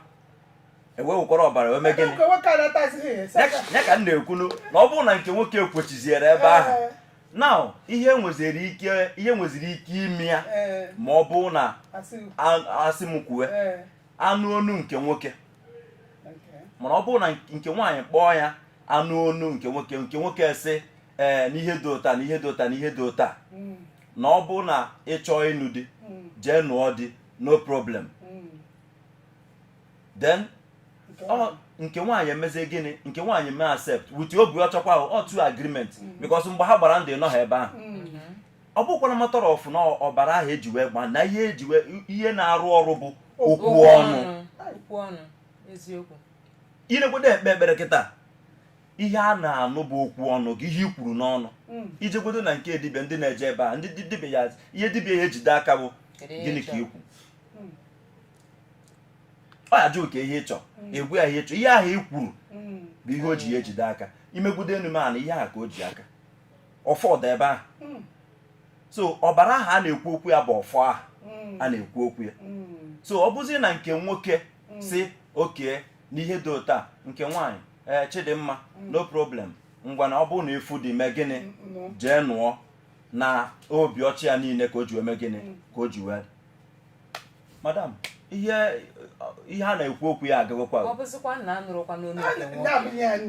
e wee wekwara ọbara wee mee gịnị Nke nwoke anatazighị ya, sị aka. ya ka m na-ekwunu na ọ bụrụ na nke nwoke ekwechiziere ebe ahụ Ee, now ihe nweziri ike ihe nweziri ike ime ya ee, ma ọ bụrụ na asị m. a- asị m kwuwe Ee, anụ onu nke nwoke mana ọ bụrụ na nke nwaanyị kpọọ ya anụ onu nke nwoke nke nwoke sị ee eh, n'ihe dị otu a na ihe dị otu a na ihe dị otu a hmm. na ọ bụrụ na ị chọọ ịnụ di hmm. jee nụọ di no problem hmm. then nke nwaanyị emezi gịnị nke nwaanyị mee accept with obi ọcha ọkwa otu agreement because mgbe ha gbara ndụ ị nọha ebe ahụ ọ bụkwara matter of na ọbara ahụ eji wee gbaa na ihe eji wee ihe na-arụ ọrụ bụ okwu ọnụ okwu ọnụ eziokwu i jegudo kpee ekpere kịta ihe a na-anụ bụ okwu ọnụ gị ihe i kwuru n'ọnụ mm. i jegudo na nke dibịa ndị na-eje ebe ndị dibịa ya ihe dibịa ya ejide aka bụ gịnị ka i kwu mm. ọ ya ajụ gị ihe ị chọ mm. ị gwa ya ihe ị chọ ihe ahụ i kwuru bụ ihe o ji ya ejide aka i megudo enu mee ana ihe ahụ ka o ji aka ọfọ dị ebe ahụ hmm. so ọbara ahụ a na-ekwu okwu ya bụ ọfọ ahụ hmm. a na-ekwu okwu ya hmm. so ọ bụzi na nke nwoke sị okay n'ihe dị otu a nke nwaanyị ee eh, sị ọ dị mma no problem ngwa na ọ bụrụ na ị fụ di mee gịnị jee nụọ na obi ọcha niile ka o ji wee mee gịnị ka o ji wee madam ihe ihe a na-ekwu okwu ya agagokwa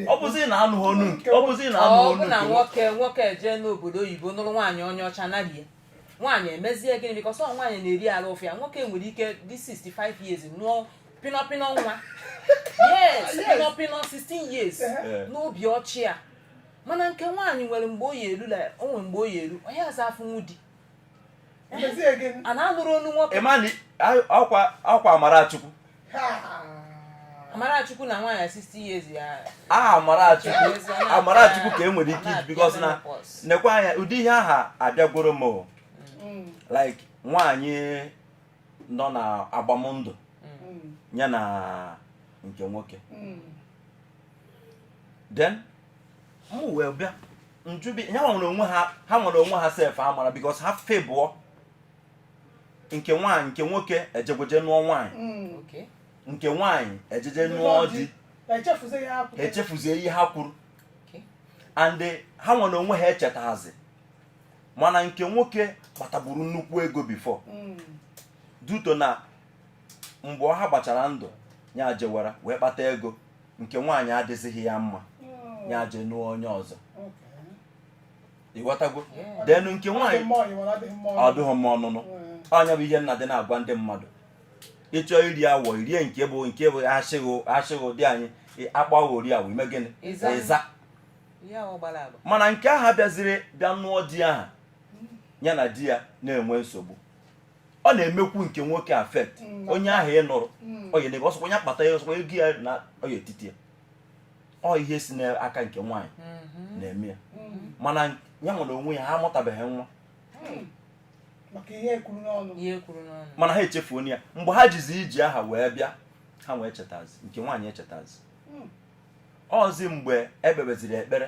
ọ bụzi na anụghị onu nke nwoke na nwoke nwoke jee n'obodo oyibo nụrụ nwaanyị onye ọcha narie nwaanyị emezie gịnị because ọ nwaanyị na-eri arụ ụfụ ya nwoke nwere ike dị 65 years nụọ pinọpinọ nwa yes pinọpinọ 16 years n'obi ọcha mana nke nwaanyị nwere mgbe ọ ya elu o nwere mgbe ọ ya elu onye aza afụnwu di a na-anụrụ onu nwoke ọkwa ọkwa amara Chukwu amara Chukwu na nwaanyị 60 years ya aha amara Chukwu amara Chukwu ka e nwere ike iji because na nekwa anya ụdị ihe aha abịagworo m mm. like nwaanyị nọ na agbamndụ mm. ya na nke nwoke mm. then mụ wee bịa njubi ha nwa n'onwe ha ha nwa n'onwe ha sef amara because ha febụọ nke nwaanyị nke nwoke ejegweje nụọ nwaanyị mm. nke nwaanyị ejeje nụọ di echefuzie ihe ha kwuru and ha nwa n'onwe ha echetazi mana nke nwoke kpataburu nnukwu ego before mm. due to na mgbe ha gbachara ndụ ya jewara wee kpata ego nke nwaanyị adịzighị ya mma ya je nụọ onye ọzọ ị ghọtago then nke nwaanyị ọ dụghị mma ọnụnụ ọ ya bụ ihe m na-adị na-agwa ndị mmadụ ị chọọ iri awọ i rie nke bụ nke bụ achịghị achịghị ụdị anyị akpọ gị ori awọ i mee gịnị ị za mana nke aha bịaziri bịa nụọ di aha ya na di ya na-enwe nsogbu ọ na-emekwu nke nwoke affect mm. onye ahụ ị nụrụ mm. onye na-ebe ọsọkwa onye akpata ya ọsọkwa ego ya na ọ ya etiti ya ọ ihe si n'aka nke nwaanyị mm-hmm. na-eme ya mm-hmm. mana ya nwa n'onwe ya ha amụtabeghị nwa mm. mana ha echefuo ya mgbe ha jizi iji aha wee bịa ha wee chetazi nke nwaanyị echetazi ọ zi mgbe e kpebeziri ekpere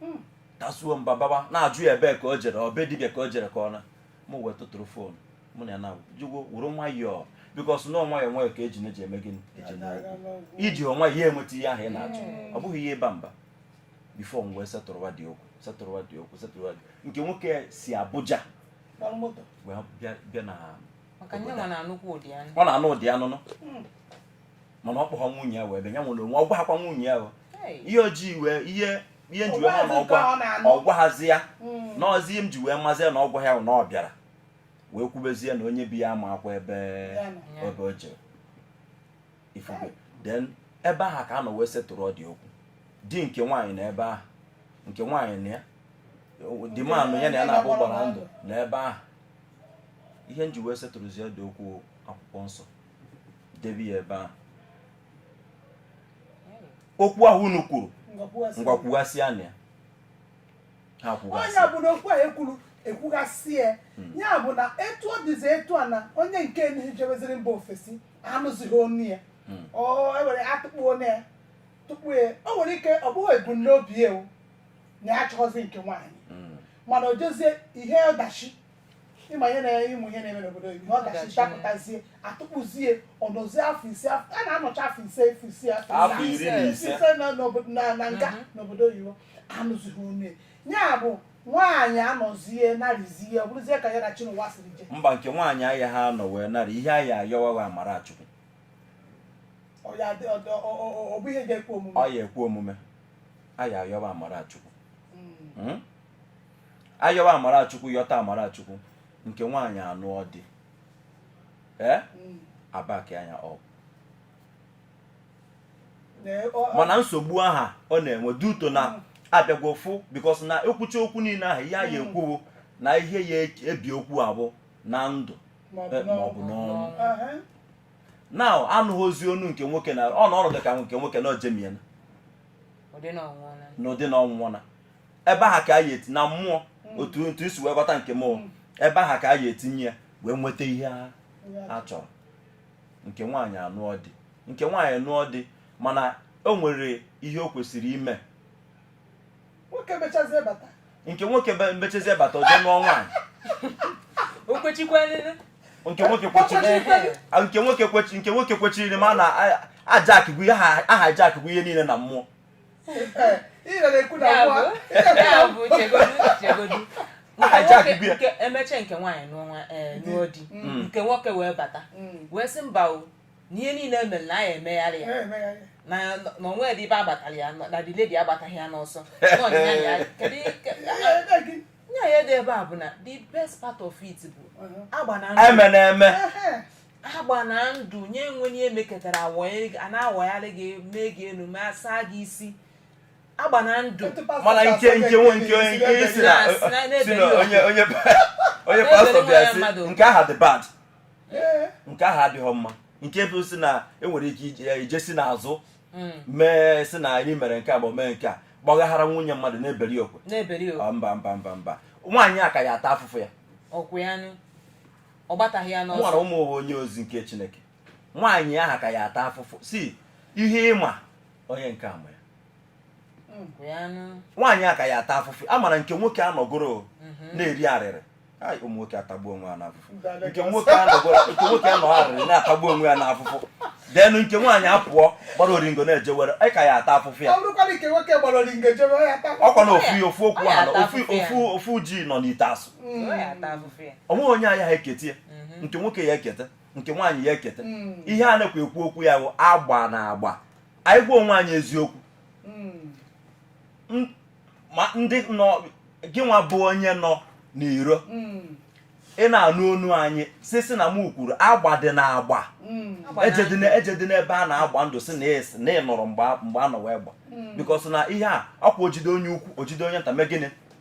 hmm. tasuo mba baba na-ajụ ya ebee ka o jere ọ be dibịa ka o jere ka ọ na mụ wee tụtụrụ phone mụ na ya na-ajụgo were nwayọọ because na ọ nwayọ nwayọ ka eji na-eji eme gịnị eji iji nwayọ enweta ihe ahụ ị na-achọ hmm. ọ bụghị ihe ịba mba before m wee setụrụwa dị okwu setụrụwa dị okwu setụrụwa dị nke nwoke si Abuja wee bịa na ọ na-anụ ụdị anụnụ hmm. mana ọ kpọghọ nwunye ya wee bịa ya nwa n'onwe ọ gwahakwa nwunye ya ihe o ji wee ihe ihe m ji wee ma na ọ gwa ọ gwahazi ya hmm. na ọ zi ihe m ji wee mazie na ọ gwaha ya na ọ bịara wee kwubezie na onye be ya amakwa ebe ebe o jere ifufe then ebe ahụ ka a nọ wee setụrụ ọ dị okwu di nke nwaanyị na ebe ahụ nke nwaanyị na ya dị manụ ya na ya na-abụ gbara ndụ na ebe ahụ ihe m ji wee setụrụzie dị okwu akwụkwọ nsọ debe ya ebe ahụ okwu ahụ unu kwuru ngwa kwughasịanụ ya ha kwughasị ọ ya bụ na okwu a e kwuru ekwughasị ya hmm. ya bụ na etu ọ dịzi etu a na onye nke enyi jebeziri mba ofesi anụzighị onu ya hmm. ọ ewere atụkpọ onu ya tupu ya o nwere ike ọ bụghị ebumnobi ya na ya achọghọzi nke nwaanyị hmm. mana o jezie ihe ọdachi ị ma ihe na ị ma ihe na-eme n'obodo oyibo ọdachi dapụtazie atụkpọzie ọ nọzie afọ ise a na-anọcha afọ ise afọ ise afọ ise na nga mhm. n'obodo oyibo anụzighị onu ya bụ nwaanyị anọzie narịzie ọ bụrụzie ka ya na chinụwa siri je mba nke nwaanyị ọ ya ha nọ wee narị ihe a ya ayọwawa amara Chukwu ọ ya ekwe omume ọ ya ekwe omume a ya ayọwa amara Chukwu hmm. Hmm? ayọwa amara Chukwu yọta amara Chukwu nke nwaanyị anụọ di ee Mm. abaki anya ọ Na ọ- ọ- mana nsogbu aha ọ na-enwe due to na Mm. a bịago fụ because na ekwucha okwu niile ahụ ya ya Mm. ekwuwo na ihe ya eji- ebi okwu a bụ na ndụ ma ọ bụ eh, ma ọ bụ n'ọnwụ. n'ọnwụ Aha. na anụghọzi onu nke nwoke na ọ na ọnọdụ ka nke nwoke na o jemiena ụdị na ọ nwụọla n'ụdị na ọ nwụọna ebe aha ka a ya eti na mmụọ hmm. otu otu i si wee ghọta nke mmụọ hmm. ebe aha ka a ya etinye ya wee nweta ihe a chọrọ nke nwaanyị anụọ di nke nwaanyị nụọ di mana o nwere ihe o kwesịrị ime nke nwoke mechazie bata o je nụọ nwaanyị nke nwoke kwechiri nke nwoke kwechiri nke nwoke kwechiri ma na ajakigwu aha ajakigwu ihe niile na mmụọ emeche nke nwaanyị n'ọnwa eh, mm. nụọ di mm. Mm. nke nwoke wee bata wee sị mba o na ihe niile e mere na a ya emegharị ya na o nwedị ebe a gbatara ya na the lady agbataghị ya n'ọsọ nya ya dị ebe a bụ na the best part of it bụ uh-huh. agba na eme na eme agba na ndụ nye enwe ihe meketara a na-awagharị gị mee gị elu ma saa gị isi agba na ndụ mana nke nke nwe nke onye nke isi na si na onye onye onye pastọ bịa sị nke aha dị bad nke aha adịghị mma nke bụ sị na e nwere ike ije si n'azụ hmm. mee sị na anyị mere nke a bụ mee nke a gbaghaghara nwunye mmadụ na-eberi okwe mba mba mba mba nwaanyị a ka ya ata afụfụ ya ọ gbataghị ya n'ọsọ mụnwa onye ozi nke Chineke nwaanyị aha ka ya ata afụfụ sị ihe ị ma onye nke a ma ya nwaanyị a ka ya ata afụfụ a mara nke nwoke anọgoro mhm. na-eri arịrị ụmụ nwoke atagbu onwe ya n'afụfụ nke nwoke anọgoro nke nwoke anọ arịrị na-atagbu onwe ya n'afụfụ then nke nwaanyị apụọ gbara oringo na-ejewere nwaanyị ka ya ata afụfụ ya ọkwa na ofu ofu okwu ahụ ofu ji nọ n'ite asụ mm. ọ nweghị onye a ya eketa ya mm-hmm. nke nwoke ya eketa nke nwaanyị ya eketa mm. ihe a na-ekwu ekwu okwu ya bụ agba na agba anyị gwa onwe anyị eziokwu mm. ma ndị nọ gị nwa bụ onye nọ n'iro ị na-anụ onu anyị sị sị na m kwuru agba dị na agba ejedị n'ebe a na-agba ndụ sị na e sị na ị nọrọ mgbe a nọ wee gba because na ihe a ọkwa o jide onye ukwu o jide onye nta mee gịnị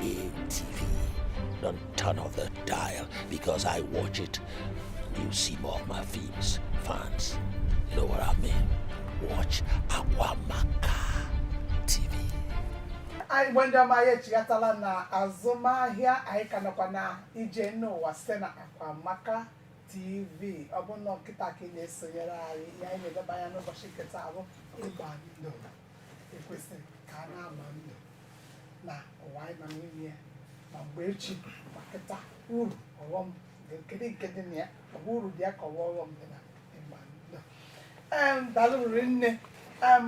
A TV. Don't turn off the dial because I watch it. You see more of my films, fans. You know what I mean? Watch Akwamaka TV. ndị Igbo ndị ọma anyị echighatala na azụmahịa anyị ka nọkwa na Ije Enu Ụwa site na Akwamaka TV ọ bụ na ọ kịta ka ị na-esonyere anyị ihe anyị na-eleba anya n'ụbọchị nke taa bụ ịgba ndụ ekwesịrị ka a na-agba ndụ na ụwa anyị nọ n'ime ya ma mgbe ichie ma kịta uru ọghọm dị kedu nke dị na ya ọ bụ uru dị ya ka ọ wụ ọghọm dị na ịgba ndụ em daalụ riri nne em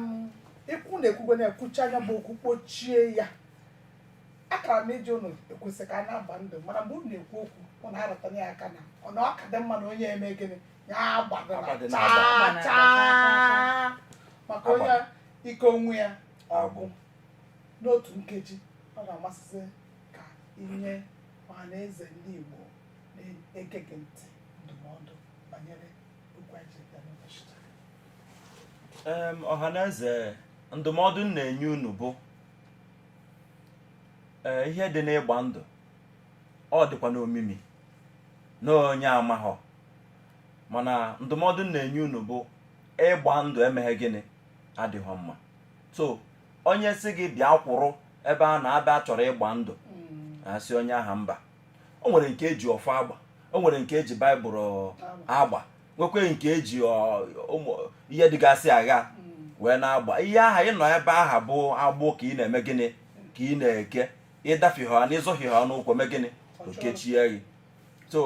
ikwu na ekwugo na-ekwucha ya bụ okwu kpọchie ya akara m iji ụnụ ekwesị ka a na-agba ndụ mana mgbe unu na-ekwu okwu ụnụ arụtana ya aka na ọ na ọ ka dị mma na onye eme gịnị maka onye ike onwe ya agbụ n'otu nkeji ọ ga-amasị ka i nye ọha na eze ndị Igbo na-ege gị ntị ndụmọdụ banyere okwu anyị ji bịa n'ụbọchị taa. Em, ọhaneze ndụmọdụ m na-enye unu bụ ee, ihe dị n'ịgba ndụ ọ dịkwa n'omimi na onye amaghọ mana ndụmọdụ m na-enye unu bụ ịgba ndụ emeghe gịnị adịghị mma so onye si gị bịa kwụrụ ebe a na-abịa chọrọ ịgba ndụ mm. asị onye aha mba o nwere nke e ji ọfọ agba o nwere nke e ji baịbụl agba nwekwe nke e ji ihe dịgasị aghaa mm. wee na-agba ihe aha ị nọ ebe aha bụ agbụ ka ị na-eme gịnị ka ị na-eke ị dafie ha na ị zọhie ha n'ụkwụ mee gịnị o kechie gị so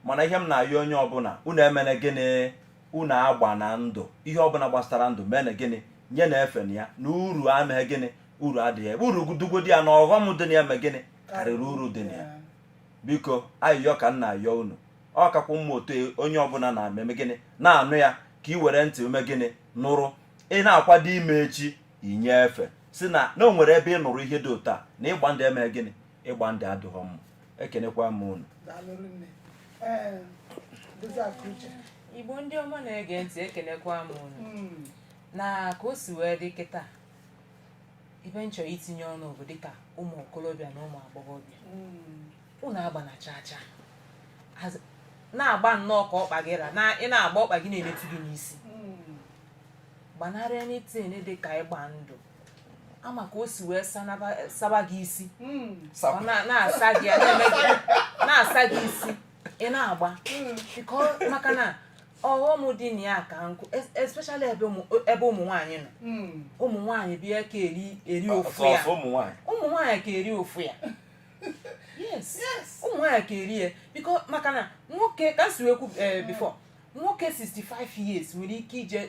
mana ihe m na-ayọ onye ọbụla unu emene gịnị unu agbana ndụ ihe ọbụla gbasara ndụ menụ gịnị nyenụ efe na ya na uru emeghe gịnị uru adịghị ebe uru dịgodi ya na ọghọm dị na ya mee gịnị karịrị uru dị na ya biko ayịyọ ka m na-ayọ unu ọ kakwa mma otu onye ọbụla na-eme gịnị na-anụ ya ka ị were ntị mee gịnị nụrụ ị na-akwado ime echi i nye efe si na na o nwere ebe ị nụrụ ihe dị otu a na ịgba ndụ eme gịnị ịgba ndụ adịghọ mma ekenekwa m unu igbo ndị ọma na-ege ntị ekenekwa m unu hmm. na ka o si wee dị kịta ebe m chọrọ itinye ọnụ bụ dịka ụmụ okorobịa na ụmụ agbọghọbịa ụnụ hmm. agbana chaa chaa na-agba nnọọ ka ọkpa gị ra ị na-agba ọkpa gị na-emetụ gị n'isi hmm. gbanarị anything dị ka ịgba ndụ a ma ka o si wee sanaba- saba gị isi Mm. ọ na- na-asa gị ya na-eme gị na-asa gị isi ị na-agba Biko, maka na ọghọm dị na ya ka nnukwu es- especially ebe ụmụ ebe ụmụ nwaanyị nọ Mm. ụmụ nwaanyị bịa ka eri eri ụfụ ya sọsọ ụmụ nwaanyị ụmụ nwaanyị ka eri ụfụ ya yes Yes. ụmụ nwaanyị ka eri ya biko maka na nwoke ka m si wee kwu eh, before nwoke 65 years nwere ike ije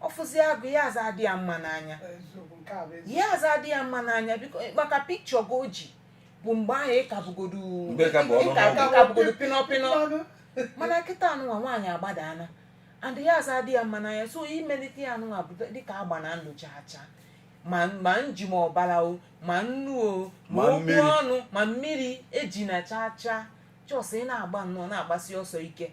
ọ fụzia gị ya aza adị ya mma n'anya eziokwu nke a bụ eziokwu ya aza adị ya mma n'anya biko maka picture gị o jibu mgbe ahụ ị kabụgodu Mgbe ka bụ ọnụ ị ka- mmadụ. ị kabụgodu pịnọ pịnọ Mmanụ. mana kịta anụnwa nwaanyị agbadaana and ya aza adị ya mma n'anya so imelite ya anụnwa bụ dịka agbana ndụ chaa chaa ma ma ọjị ma ọbara o ma nnu o ma Ma okwu mmiri. ọnụ ma mmiri ejina chaa chaa just ị na-agba nnọọ na-agbasi ọsọ ike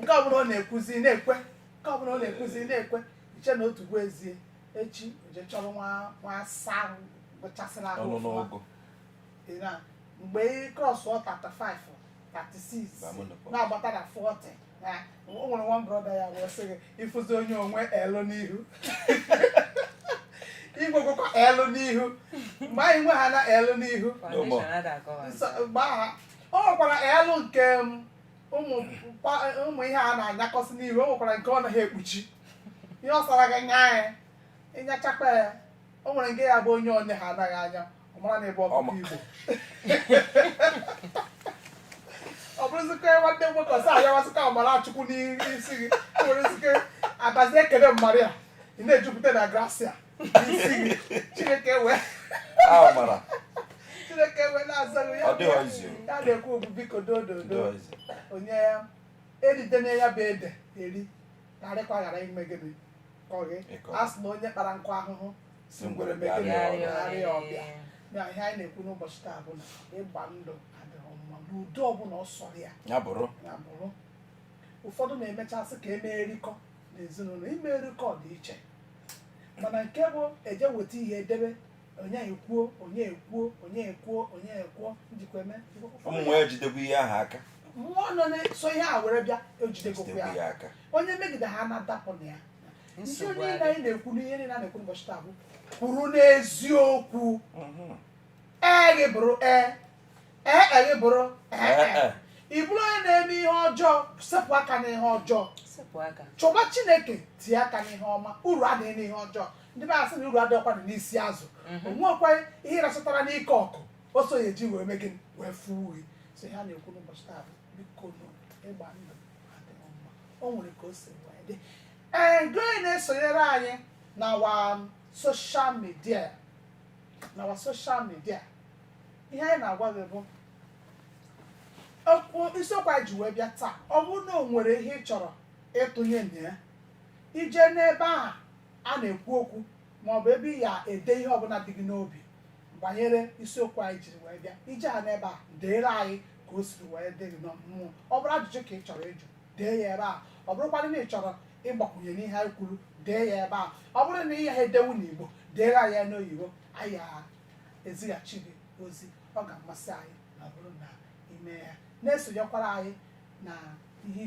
nke ọbụla ọ na-ekwuzi na-ekwe nke ọbụla ọ na-ekwuzi na-ekwe iche na otu bụ ezie echi o jee chọrọ nwa nwa asa ahụ gbachasịrị ahụ ọnụ ọfụma. n'ọgụ Ị na- mgbe ị crossọ 35 36 Ba mụ nọkwa. na-agbata na 40 na o nwere one brother ya wee sị gị ị fụzi onye o nwe elu n'ihu igwegwekwa elu n'ihu mgbe anyị nwe ha na elu n'ihu No more. Foundation ada akọwa. nsọ- mgbe aha o nwekwara elu nke m, ụmụ mkpa- ụmụ ihe a na-anyakọsị n'ihu o nwekwara nke ọ naghị ekpuchi ihe ọ sọrọ gị nya ya ị nyachakwa ya o nwere nke ya bụ onye onye ha anaghị anya ọ mara na ọ bụ ọkụkọ Ọma. igbo ọ bụrụzikwa nwanne m nwoke ọsọ ayawasịka amara chukwu n'isi gị o nwerezi ike abụzi ekele Maria ị na-ejupụta na grasia chineke wee chineke wee na-aza ya na-ekwu okwu biko dododo onye ya eridene ya bụ ede e rikarịkwa ghara ime gịnị kọọ gị a sị na onye kpara nkụ ahụhụ sị ngwere mee gịnị bịara ọbịa na ihe anyị na-ekwu n'ụbọchị taa bụ na ịgba ndụ adịghị mma n'ụdị ọbụla ọ sọrọ ya ya bụrụ ụfọdụ na-emechasị ka e mee orikọ n'ezinụlọ ime orikọ dị iche mana nke bụ e jee weta ihe e debe onye ekwuo onye ekwuo onye ekwuo onye ekwuo njikwa eme ụmụ ya jidekwa ihe ahụ aka mmụọ nọ na-eso ihe a were bịa ejidegokwa jidekwa ya ya aka onye megide ha na-adapụ na ya ihe Nsogbu niile adị. anyị na-ekwu n'ihe niile a na-ekwu n'ụbọchị taa bụ kwụrụ n'eziokwu Mhm. ee gị bụrụ ee ee e gị bụrụ ee e. Ee, ị bụrụ onye na-eme ihe ọjọọ sepụ aka n'ihe ọjọọ sepụ aka chọba chineke tie aka n'ihe ọma uru adịghị n'ihe ọjọọ ndị be anyị sị na uru adịghịkwa na n'isi azụ o nwekwa ihe ị rachọtara n'ike ọkụ o so ya e ji wee mee gịnị wee fuo uwe so ihe a na-ekwu n'ụbọchị taa bụ biko nụ ịgba ndụ adịghị mma o nwere ka o si wee dị ee gị onye na-esonyere anyị n'ọwa social media n'ọwa social media ihe anyị na-agwa gị bụ isiokwu anyị ji wee bịa taa ọ bụrụ na o nwere ihe ị chọrọ ịtụnye na ya ị je n'ebe a a na-ekwu okwu ma ọ bụ ebe ị ya ede ihe ọbụla dị gị n'obi banyere isiokwu anyị jiri wee bịa ị je ha n'ebe a deere anyị ka o siri wee dị gị na mmụọ ọ bụrụ ajụjụ ka ị chọrọ ịjụ dee ya ebe a ọ bụrụkwadụ na ị chọrọ ịgbakwunye n'ihe anyị kwuru dee ya ebe a ọ bụrụ na ị ya edewu n'igbo deere anyị ya n'oyibo anyị ya ezighachi gị ozi ọ ga-amasị anyị ma ọ bụrụ na i me ya na-esonyekwara anyị na ihe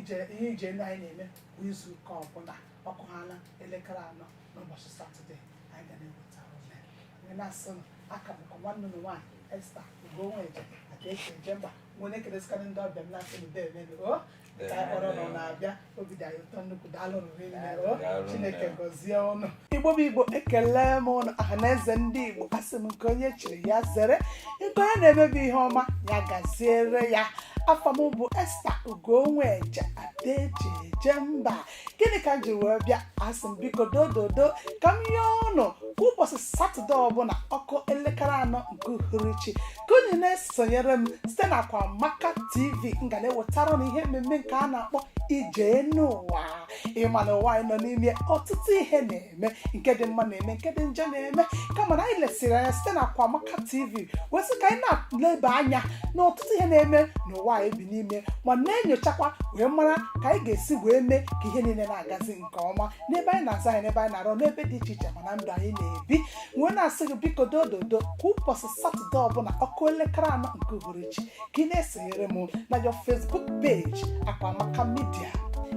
ije ndị anyị na-eme kwa izu ụka ọbụla ọ kụọ ha na elekere anọ n'ụbọchị satọde anyị ga na-ewetara ụnụ wee na-asị nụ a ka bụkwa m nwanne ụnụ nwaanyị esta ugonweje ada eji eje mba wee na-ekelesịkarị ndị ọbịa m na-asị nụ deeme o ka anyị kpọrọ ụnụ na-abịa obi dị anyị ụtọ nnukwu daalụ nụ rinne o Daalụ nne. chineke gọzie ụnụ igbo bụ igbo ekele m ụnụ ọha na eze ndị igbo asị m nke onye chiri ya zere nke onye na-eme bụ ihe ọma ya gaziere ya afa m bụ esta ugonweje ada eji eje mba gịnị ka m ji wee bịa asị m biko dododo ka m yọọ ụnụ ụbọchị satọde ọbụla ọ kụọ elekere anọ nke uhuruchi ka unu na-esonyere m site na Akwamaka TV m ga na-ewetara ụnụ ihe mmemme nke a na-akpọ ije enu ụwa ị ma na ụwa anyị nọ n'ime ọtụtụ ihe na na-eme nke dị mma na-eme nke dị njọ na-eme kama na anyị lesiri anya site na Akwamaka TV wee sị ka anyị na-eleba anya na ọtụtụ ihe na-eme n'ụwa anyị bi n'ime ma na-enyochakwa wee mara ka anyị ga-esi wee mee ka ihe niile na-agazi nke ọma n'ebe anyị na-azụ ahịa n'ebe anyị na-arụ n'ebe dị iche iche ma na ndụ anyị na-ebi wee na-asị gị biko dododo kwa ụbọchị satọde ọbụla ọ kụọ elekere anọ nke uhuruchi ka ị na-esonyere m na your Facebook page Akwamaka Media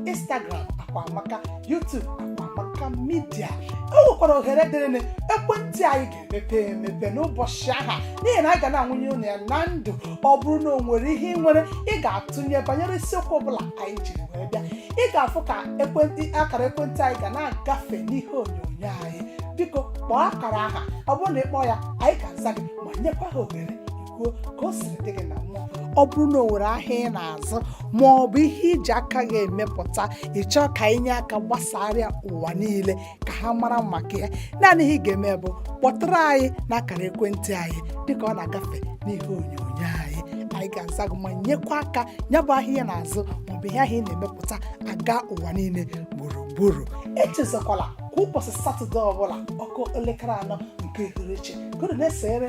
Instagram Akwamaka YouTube Akwamaka Media o nwekwara ohere dịrịnụ ekwentị anyị ga-emepe emepe n'ụbọchị aha n'ihi na anyị ga na-anwụnye ụnụ ya na ndụ ọ bụrụ na o nwere ihe ị nwere ị ga-atụnye banyere isiokwu ọbụla anyị jiri wee bịa ị ga-afụ ka ekwentị akara ekwentị anyị ga na-agafe n'ihe onyonyo anyị biko kpọọ akara aha ọ bụrụ na ị kpọọ ya anyị ga-aza gị ma nyekwa gị ohere kwuo ka o siri dị gị na mmụọ ọ bụrụ na o nwere ahịa ị na-azụ ma ọ bụ ihe i ji aka gị emepụta ị chọọ ka e nye aka gbasaara ụwa niile ka ha mara maka ya naanị ihe ị ga-eme bụ kpọtụrụ anyị n'akara ekwentị anyị dịka ọ na-agafe n'ihe onyonyo anyị anyị ga-aza gị ma nyekwa aka ya bụ ahịa ị na-azụ maọbụ ihe ahụ ị na-emepụta aga ụwa niile gburugburu echezọkwala kwa ụbọchị satọde ọbụla ọ kụọ elekere anọ nke uhuruchi gụrụ na-esere